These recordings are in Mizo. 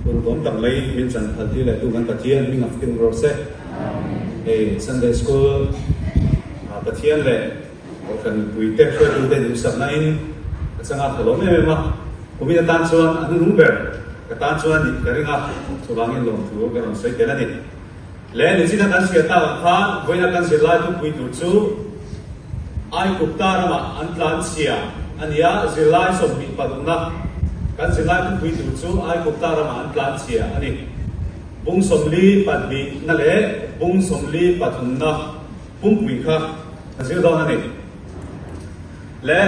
Ur bawm tak mai min chan phal tirh leh tu kan Pathian min ngam phirh rawh se. Hei Sunday School ah Pathian leh Orphan pui te hriatu te duhsak na in ka changa tha lawm em em a. Kumin atan chuan an nung ber ka tan chuan nih ka ring a chuvangin lawmthu ka rawn sawi tel a ni. Leh ni china kan hria tak ang khan vawiina kan zir lai thupui tur chu Aikupta ramah an tlan chhia a ni a, zirlai sawmhnih parukna kan zir lai thupui tur chu Aikupta ramah an tlan chhia a ni. Bung sawmli pahnihna leh bung sawmli pathumna pumpui kha kan zir dawn a ni. Leh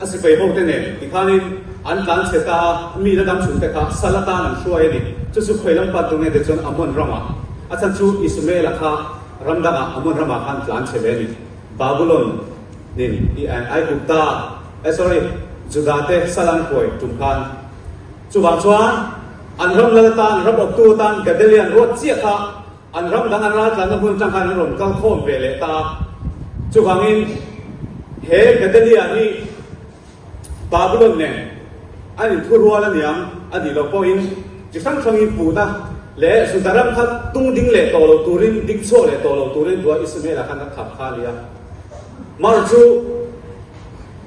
A si fei ho te nen tikhanin an tlan chhe ta a, mi la dam chhung te kha sal atan an hruai a ni. Chu chu pheilam pat dun nge te chuan Ammon rama, a chhan chu Ismaela kha ram danga Ammon rama kha an tlan chhe ve a ni. Babulon nen i Aigupta eh sorry Judah te sal an hruai tum khan. Chuvang chuan an ram lal atan ram awptu atan Gedalia an ruat chiah kha An ram dang an ral tlanna hmun changkhan an rawn kal khawm ve leh ta a, chuvangin he Gedalia hi Babylon nen a inthu rual aniang a nih loh pawhin chi hrang hrangin puhna leh suza ram kha tung ding leh tawh lo turin ding chhuak leh tawh lo turin tua Ismaela khan a kham kha a nia. Mar chu.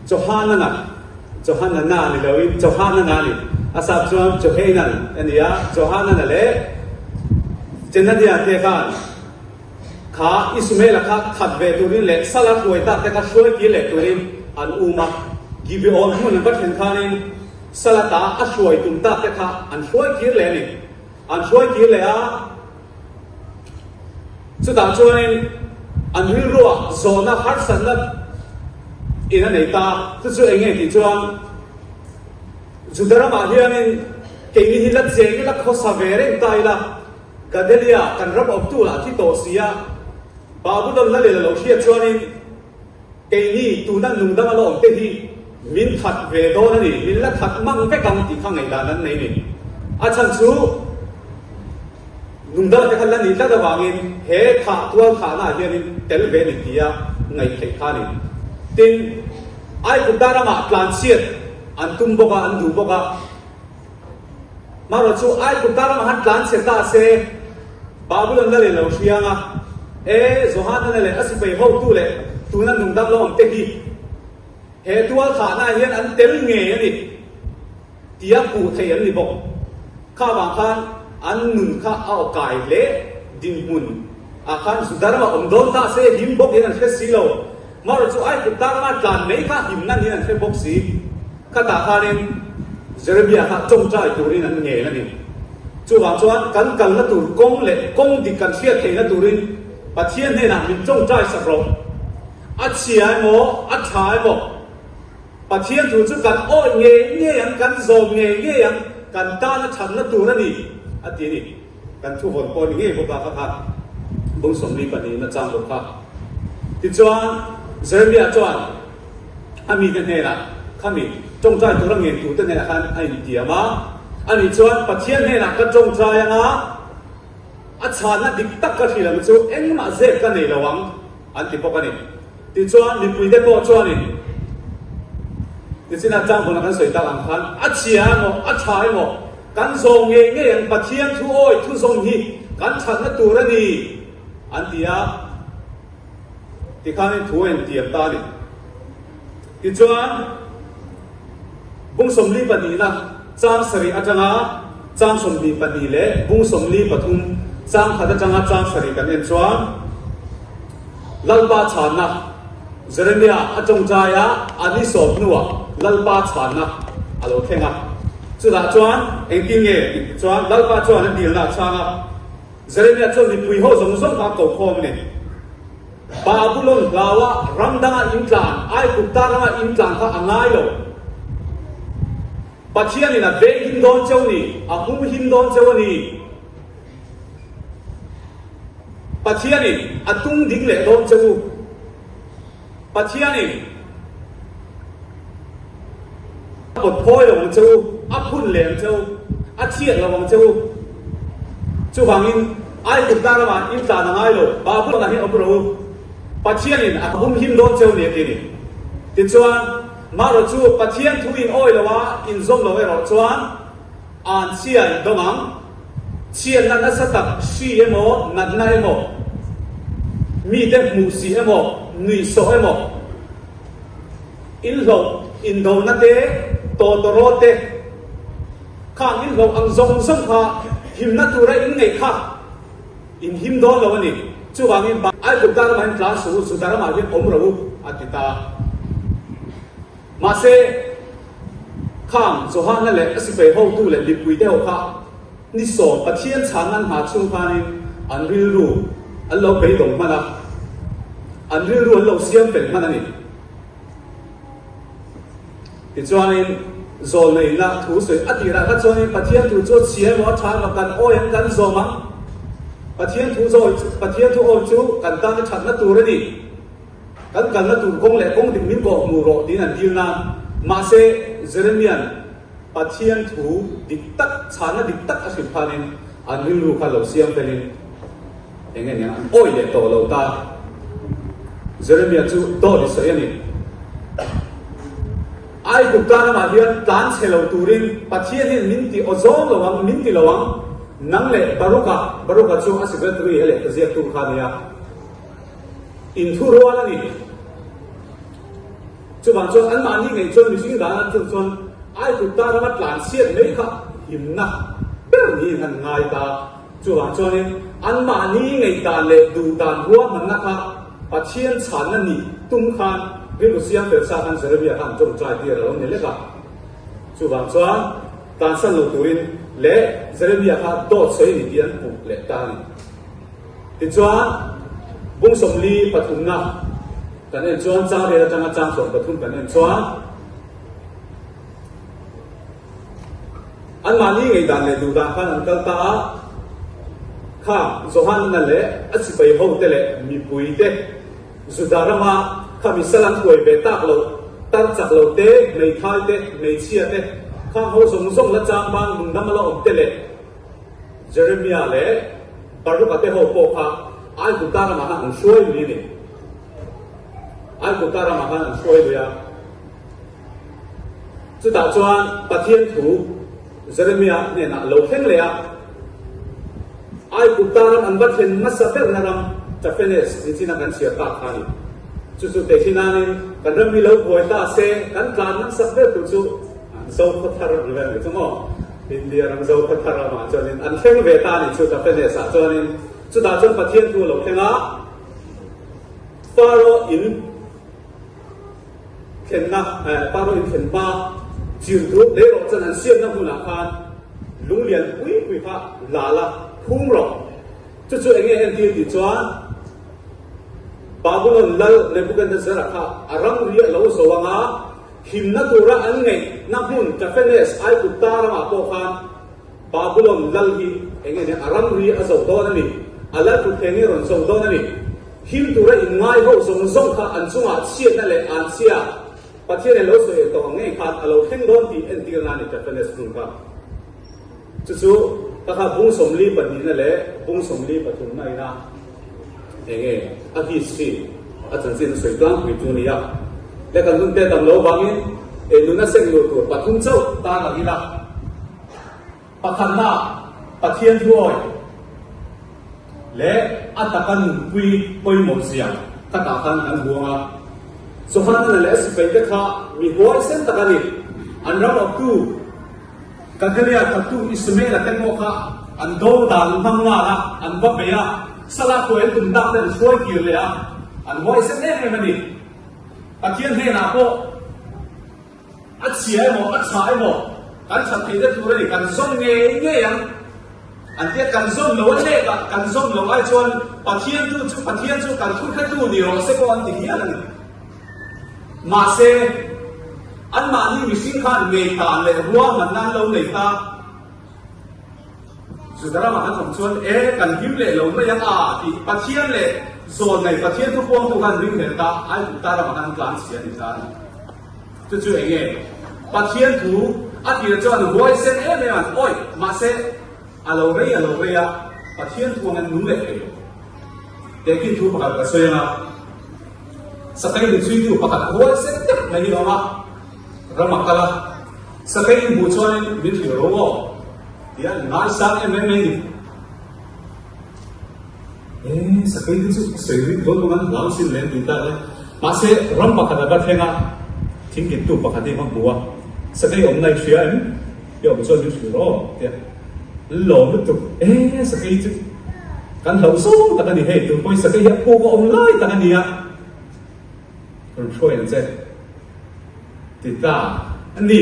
Johanan a, Johanana a ni loin Johanan a a ni. A sap chuan Johanan a ni a, Johanana leh Jenadiah te khan kha Ismaela kha that ve turin leh Salah hruai tak te kha hruai kir leh turin an um a. Gibeon hmun an va thlen khanin Salah ta a hruai tum tak te kha an hruai kir leh a ni. An hruai kir leh a. Chutah chuanin an rilruah zawhna harsatna in a nei ta. Chu chu eng nge tih chuan Juda ramah hianin keini hi la cheng ila khawsa ve reng ta ila Gadelia kan ram awmtu lah thi tawh si a, Babylon la leh la lo hriat chuanin Keini tuna lungdam a lawm te hi min that ve dawn a ni, min la that mang vek ang tih kha ngaihdan an nei a ni. A chhan chu lungdam te kha la ni tlat avangin he thah tual thahnaah hianin tel ve a ni tia ngaih theih kha a ni. Tin, Aikup Dar amah tlanchhiat an tum bawk a, an duh bawk a. Hmaraw chu ai kum ta lama han tlan chhe ta se Babylon la leh lo hriang a, e Johanana leh a sipai hotu leh tun an nungdang lo ang te hi he tualthlahnaah hian an tel ngei a ni tia hmuh theih an ni bawk. Kha vang khan an nun kha a aw kai hle, dinhmun ah khan Judharma awm dawn ta se him bawk in an hre si lo. Mary chu ai tluk tang a, tlan mai kha him nan in an hre bawk si. Khatah khanin Jeremiah kha tawngtai turin an ngel a ni. Chuvang chuan kan kalna tur kawng leh kawng dik kan hriat theihna turin Pathian hnenah min tawngtai sak rawh. A chhia emaw, a tha emaw, Pathian thu chu kan awih ngei ngei ang, kan zawm ngei ngei ang, kan tana thatna tur a ni, a ti a ni. Kan thu vawn pawh a ni ngei bawk a ka kha bung sawmli pahnih in a chang bawk kha. Tichuan Jeremia chuan a mite hnenah khami tawngtai tur a ngen tu te hnenah khan a intiam a, a nih chuan Pathian hnenah ka tawngtai anga a chhana dik tak ka hrilh ang chu engmah zat ka nei lo ang an ti bawk a ni. Tichuan mipui te pawh chuanin nichinah chang hunah kan sawi tak ang khan a chhia emaw a tha emaw Kan zawng ngei ngei ang Pathian thu awi thu zawng hi kan thatna tur a ni an ti a, tikhanin thu a intiam ta a ni. Tichuan, Bung sawmli pahnihna chang sarih atanga chang sawmhnih pahnih leh bung sawmli pathum chang khat atanga chang sarih kan en chuan Lalpa chhanna, Jeremiah a ṭawngṭai a a ni sawp hnuah Lalpa chhuannak a lo thleng a. Chutah chuan engtin nge tih ti chuan Lalpa chuan a dilna a chhang a. Jeremiah chuan mipui ho zawng zawng kha a ko khawm a ni. Babulon hlau a ram danga intlan, Aigupta rama intlan kha a ngai lo. Pathianin a venghin dawn cheu ni, a hmuhin dawn cheu a ni. Pathianin a tung ding leh dawn che u. Pathianin a pawt phawi lo ang che u, a phun leh ang che u, a chhiat lo ang che u. Chuvangin Aigupta lam ah in tlan a ngai lo, Babylon ah hi a awm rih u. Pathianin a hum him dawn che u nia, tini. Tichuan, mah erawh chu Pathian thu in awi loa in zawm lo erawh chuan, An chhia i dawng ang. Chhianna nasa tak hri emaw, natna emaw, mite hmuh si emaw, nuihsawh emaw, inhlawh indona te, tawtawraw te kha an inhlawh ang zawng zawng kha himna tura inngeih kha in him dawn lo a ni. Chuvangin Baibal dah lamah hian tlang suh u, Juda ramah hian awm ro u a ti ta. Mahse, khang Johanna leh a sifei hotu leh mipui deuh kha ni sawm Pathian chhang nan hna chung khanin an rilru an lo beidawng hman a, an rilru an lo siam fel hman a ni. Tichuanin, zawlna inna thu sawi a tirah kha chuanin Pathian thu chu a chhia emaw a tha emaw kan awi ang, kan zawm ang. Pathian thu zawh, Pathian thu awi chu kan tana thatna tur a ni. Kan kalna tur kawng leh kawng dik min kawh hmu rawh tiin an kilna. Mahse, Jeremia'n Pathian thu dik tak, chhahna dik tak a hrilh phânin an rilru kha lo siam felhin eng nge nia an awi leh tawh lo ta. Jeremia chu dawt i sawi a ni. Aikup tan lamah hian tlan chhe lo turin Pathian hian min ti aw zawng lo ang, min ti lo ang. Nang leh Barukha, Barukha chu a secretary a leh ta ziaktu kha a nia. In thu rual a ni. Chuvang chuan anmahni ngei chuan mihring dan an tluk chuan aiput ta rama tlansiat mai kha himna ber niin an ngai ta. Chuvang chuanin anmahni ngaihdan leh duhdan ruahmanna kha Pathian chhanna nih tum khan rilru siamper sa khan Jeremia kha an tawngtai tir a lo ni lek a. Chuvang chuan tlansan lo turin leh Jeremia kha dawt sawi a ni tih an hmuh leh ta a ni. Tichuan, bung sawmli pathumna kan en chuan chang vel atanga chang sawm pathum kan en chuan anmahni ngeidan leh duhdan khan an kal ta a. Kha Johana leh a sipai hote leh mipuite, Juda rama kha misal an huai ve tak lo, tar chak lo te, hmeithai te, hmeichhia te, khangho zawng zawng la chang bang nungdang a la awm te leh, Jeremiah leh Baruka te ho pawh kha Aigupta ramah khan an hruai lui a ni. Aigupta ramah khan an hruai lui a. Chutah chuan Pathian thu Jeremiah hnenah a lo thleng leh a. Aigupta ram an va thlen hmasa berna ram Taphenes tih chin a kan chhiar ta kha a ni. Chu chu tehli nain kan ram hi lo buai ta se kan tlan nang sak ber tur chu an zo khaw thar ang vel a ni chu maw? India ram Zokhawthar lamah chuanin an thleng ve ta a ni chu Tapenes ah chuanin chutah chuan Pathian thu a lo thleng a, Pharaoh in thlenna eh Pharaoh in thlen hma chim thu lei rawh chuan an siamna hmunah khan lung lian pui pui kha la la hum rawh chu chu enge hen tir tih chuan Babylon lal Nebuchadnezzar kha a ramri a lo zawh anga Thinna tura an ngeih na hmun Taphenes ai kut ta ramah pawh khan Babylon lal hi eng nge nia? A ramri a zoh dawn a ni, a lal thutthe nge rawn cho dawn a ni? Him tura inngai ho zawng zawng kha an chunga chhiatna leh an chhia Pathian in lo sawi el tawk ang ngei khan a lo thleng dawn tih entir na a ni Taphenes hmun kha. Chu chu ka kha Bung Sawmli pahnihna leh Bung Sawmli pathumna ina eng nge a history a chanchin a sawi tlangpui chu nia le kan hun tel damlo vangin e nun a sek luh tur pathum chauh tan ang ila pakhatnaa Pathian thuawi leh a taka nunpui pawimawh zia khatah khan kan buang a Sohannana leh a sipaite kha mi huaisen tak a ni an ram awptu Ka Gilead thattu Ismaela te pawh kha an do dan hmang nghal a, an va bei a, Salah tuaiin kum tak te an hruai kir leh a, an huaisek em em a ni. Pathian hnenah pawh a chhia emaw, a chhah emaw, kan that theih te tur a ni, kan zawm ngei ngei ang an tia, kan zawm lo a lek a, kan zawm lo ai chuan Pathian tu chu, Pathian chu kan thuthlatu ni rawh se pawh an ti hial a ni. Mahse, anmahni mihring khan ngei ta leh rual hman nan lo nei ta. Juda ramah an awm chuan, E, kan hlim leh lo mai ang a, tih Pathian leh zawl nei Pathian thu huamtu khan ring hmel ta, Aigupta ramah khan an tlan si a ni ta a ni. Chu chu eng nge? Pathian thu a tirah chuan an huai seng em em an awih, mahse, a lo rei a lo rei a, Pathian thu an nung leh thei lo. Te khi thu pakhat ka sawi anga, Sakei ni chuitu pakhat huai sek deuh mai hi a awm a, ram a kal a, Sakei i hmuh chuanin min hrilh ro aw tia i ngai sang em em mai ni. E, Sakei te chu sawi ring dawn awm an hlau sin lem tih tak le, mahse ram pakhat a va thleng a, thingkiptu pakhat hi a va hmu a, Sakei awmna i hria em? Biak buh chuan min hrilh aw tia an lawm lutuk e sakei chu kan hloh zawng tak a ni hei tupawi sakei hi a puk a awm lai tak a ni a hun hruai ang che ti ta a ni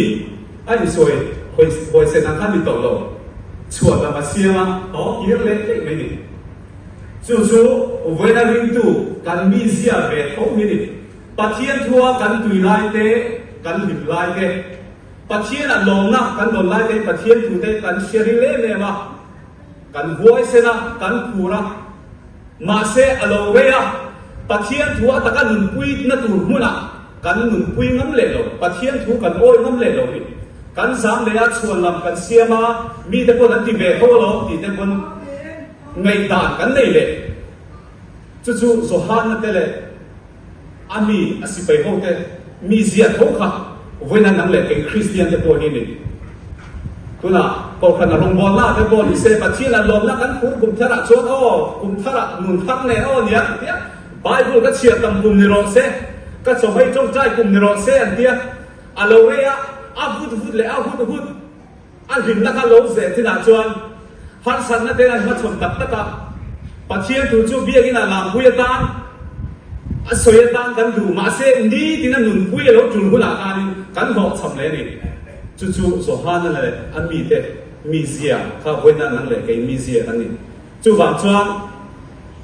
a insawi hawi huaisen ang khan ni tawh lo chhuat lam a siam a aw kir leh tlaih mai ni chu chu vawiina ringtu kan mi ziah ve tho hi ni Pathian thu a kan tui lai te kan hlim lai te. Pathianah lawmnak kan don lai tein Pathian tute kan hriat rih lem em a, kan huaisen a, kan phur a. Mahse, a lo rei a, Pathian thu a taka nunpui na tur hmunah kan nunpui ngam leh lo, Pathian thu kan awi ngam leh lo nih kan zam leh a, chhuan lam kan siam a, mite pawh an ti ve tho lo tih te pawn ngaihdan kan nei leh. Cucu Johanna te leh. A mi a si pei ho te, mi zia tho kha vawiina nang leh keng Kristian te pawh hi ni. Tunah Kohhranna rawngbawlna ah te pawh ni se, Pathian a lawmna kan phur kum thar ah chuan aw, kum thar ah nun phak nen aw nia an tia. Bible ka chhiar tam kum ni rawh se, ka chaw hei chawngchai kum ni rawh se an tia. A lo rei a, a vut vut leh a hut hut. A hlim laka lo zeh chinah chuan harsatna te an hmachhawn tak tak a, Pathian thu chu biakina a lampui atan, a sawi atan kan duh, mahse nitin a nunpui a lo tul hunah khanin kan hlawh chham hle ni. Chu chu Johana leh a mite mizia kha vawinan an leh kei mizia an ni. Chuvang chuan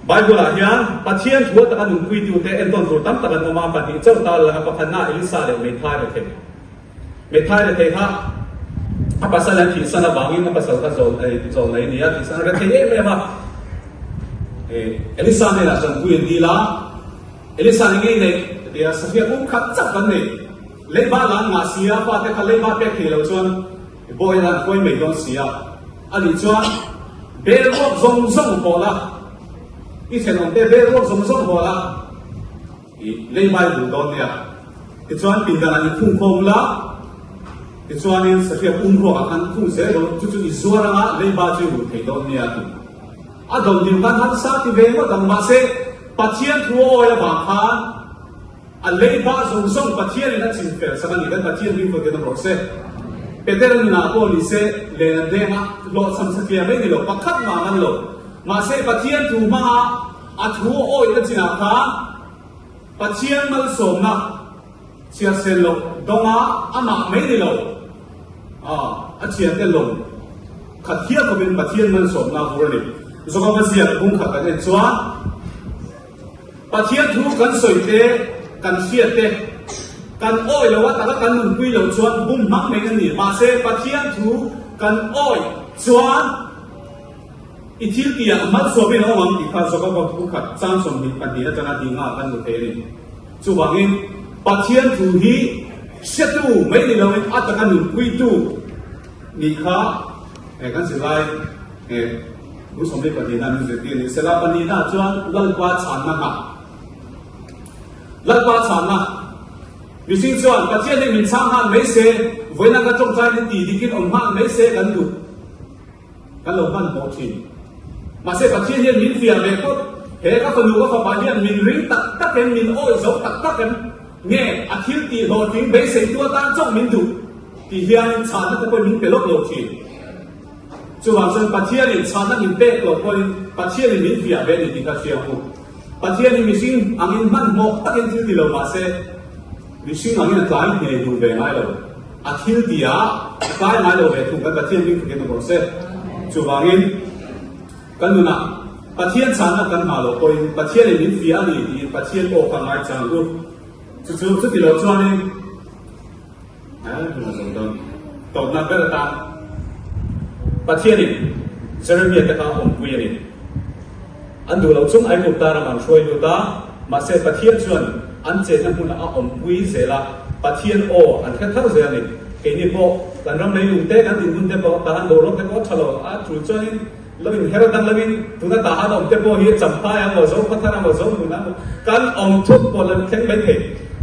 Bible ah hian Pathian thu a taka nunpuitute endawn tur tam tak an awm a, pahnih chauh ta laka pakhatna Elisa leh Meithai rethei. Mithai la thei hlah, a pasal hian thihsan avangin a pasal kha zawh nei zawh nei nia, thihsan a ret thei em em a. Elisa nena chuan pui an dil a, Elisa ni ngei nei a ti a, Safia pum khat chap kan nei, leiba la an ngah sia, pa te kha leiba pek thei lo chuan i baw hian an huai mai dawn sia, a nih chuan bel ruak zawng zawng haw la, i thenawm te bel ruak zawng zawng haw la. I leihbai hun dawn nia. Tichuan pindan an i phung khawm la. Tichuanin sathiam um ruak ah khan phung zel lo. Chu chu i zuar anga leiba chu i ruh thei dawn nia a ti. A dawn tir khan harsa ti ve ngawt ang. Mahse, Pathian thu a awi avang khan a leiba zawng zawng Pathianin a chim fel sak a ni. Kan Pathian ding pawh tirang rawh se. Peter nunah pawh ni se, len an hengah hlawhchham sathiam mai ni lo. Pakhat ngah ngan lo. Mahse, Pathian thu hmanga. A thu awihna chinah khan Pathian malsawmna chhiarsel loh dawnga amah mai ni lo a thian te lawm khat hial khawpin Pathian malsawmna bur a ni. Zohkama ziak bung khat kan en chuan Pathian thu kan sawi te, kan hriat te, kan awih lo a taka kan nunpui lo chuan bum hmang mai an ni. Mahse Pathian thu kan awih chuan. I thil ti ah hmansuah berin a awm ang tih kha Zokavot pu khat Chansawmhnih pahnih a changah ding ah a kan hmu thei a ni. Chuvang in, Pathian thu hi hriatu mai ni lo in a taka nunpui tu ni kha he kan zirlai he Pu Sawmhnih pahnih na min zirtir ni sela pahnih na ah chuan Lalpa chhanna hna Lalpa chhanna mihring chuan Pathian hi min chhang nghal mai se, vawiinaka tawngtai ni ti dik in awm nghal mai se kan duh. Kan lo hman pawh thin. Mahse Pathian hian min fiah ve phawt. He ka fanu ka fapa hian min ring tak tak em, min awih zo tak tak em, nge a thil tih hlawh tling beiseitu atan chauh min duh tih hianin chhahna te pawhin min pe lawk lo thin. Chuvang chuan Pathianin chhahna min pek lo pawhin Pathianin min fiah ve ni tih ka hria buk. Pathian hi mihring angin hman hmawk takin thil ti lo mahse, Mihring angin a tlai hne hun ve ngai lo. A thil ti a a tlai ngai lo ve thung kan Pathian ding khatin a bawrh se. Chuvangin kan nunah Pathian chahna kan hma lo pawhin Pathian in min fiah a ni tiin Pathian awk a ngai chang u. Chu chu chuti lo chuanin eh hun a zawm dawn tawpnak ber atan Pathian in Jeremiah te kha awmpui a ni. An duh lo chung Aigupta ram an hruai lut a, mahse Pathian chuan an chenna hmunah a awmpui zel a, Pathian aw an hre thar zel a ni. Keini pawh kan ram leilung te, kan dinhmun te pawh, tahan boruak te pawh a tha lo a, chu chuanin lo inher dang lovin tuna tahan a awm te pawh hi champai ang maw, zo khathar ang maw, zo hmun ang maw, kan awm thut pawh la thleng mai thei.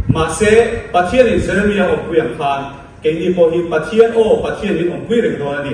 Mahse Pathianin Jeremia awmpui ang khan, Keini pawh hi Pathian aw Pathianin awmpui reng dawn a ni.